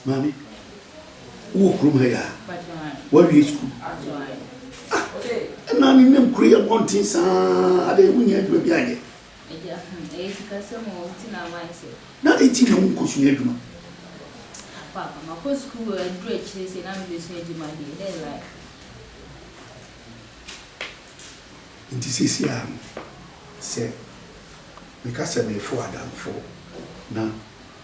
Maame, wowɔ kurom ha yi a? Woawie sukuu? Ah, ɛna ne nam kuro yi abɔnten saa adɛn wonya adwuma bi anyɛ? Na adɛn nti na wonkɔsua adwuma? Nti seesei a no, sɛ meka sɛ merefow adamfo na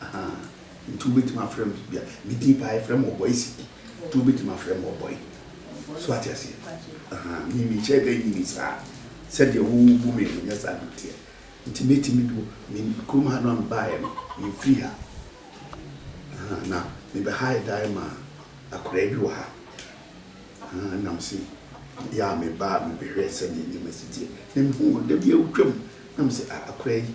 Ahaa nti wobɛtumi afrɛ me bia me din paa yɛfrɛ me ɔbɔe si nti wobɛtumi afrɛ me ɔbɔe so wate aseɛ ahaa me mehyɛɛ da nyini saa sɛdeɛ wo bu me no nyɛ saa na ɛteɛ nti mɛtumi do me kurom ha no a mebaeɛ no memfiri ha ahaa na mebɛhae dan maa akoraa bi wɔ ha ahaa na mese yɛ a mebaa mebɛhwɛɛ sɛdeɛ nneɛma si teɛ na mehuu no da bi a wotwam na mese a akoraa yi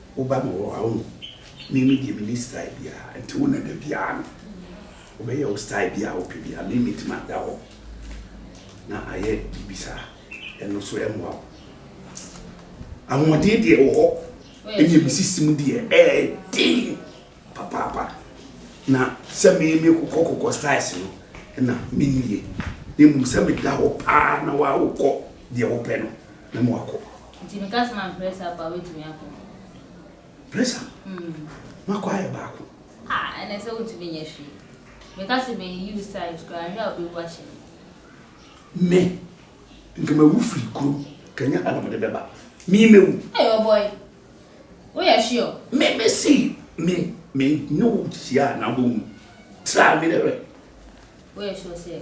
Wo ba no wɔ hɔ a wohu me me deɛ menni style biara nti wo na dabiara no wobɛyɛ wo style biara a wopɛ biara me mɛtumi ada hɔ na ayɛ biribi saa ɛno so ɛmmoa wo ahoɔden deɛ wɔ hɔ ɛnyɛ me sisi mu deɛ ɛɛden papaapa na sɛ me me kokɔ kokɔ styles no ɛna mennie na mmom sɛ meda hɔ paa na woawokɔ deɛ wopɛ no na moakɔ Nti meka sɛ ma mpress up a wobɛtumi akɔ. Press up? Mm. Makɔ ayɛ baako. Ah, ɛnɛ sɛ wontumi nyɛ hwee. Meka sɛ me yiw side koraa nhwɛ a wobɛwu ahyɛ me. Me, nka mawu firi kurom, kanya ana mede bɛba. Me mɛwu. Hey, oh boy. Woyɛ sure? Me, me si, me, me ne wo hyia a na wobɛhu. Tra me dɛ wɛ. Woyɛ sure sɛ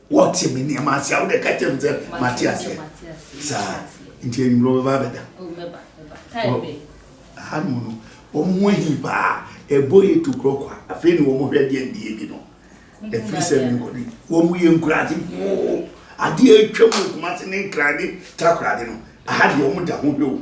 Wɔte me nneɛma ase a wode ka kyerɛ me sɛ mate aseɛ. Saa nti anwummerɛ wobɛba abɛda. Aha no mu no, wɔn ho ahi paa. Ɛbɔ yɛ tu korɔ kwa. Afei ne wɔn hwɛ deɛ ndie bi no. Ɛfiri sɛ me nkɔdi. Wɔn yɛ nkurase moo. Adeɛ atwa mu kumase ne nkrade takorade no. Aha deɛ wɔn da ho hwɛ o.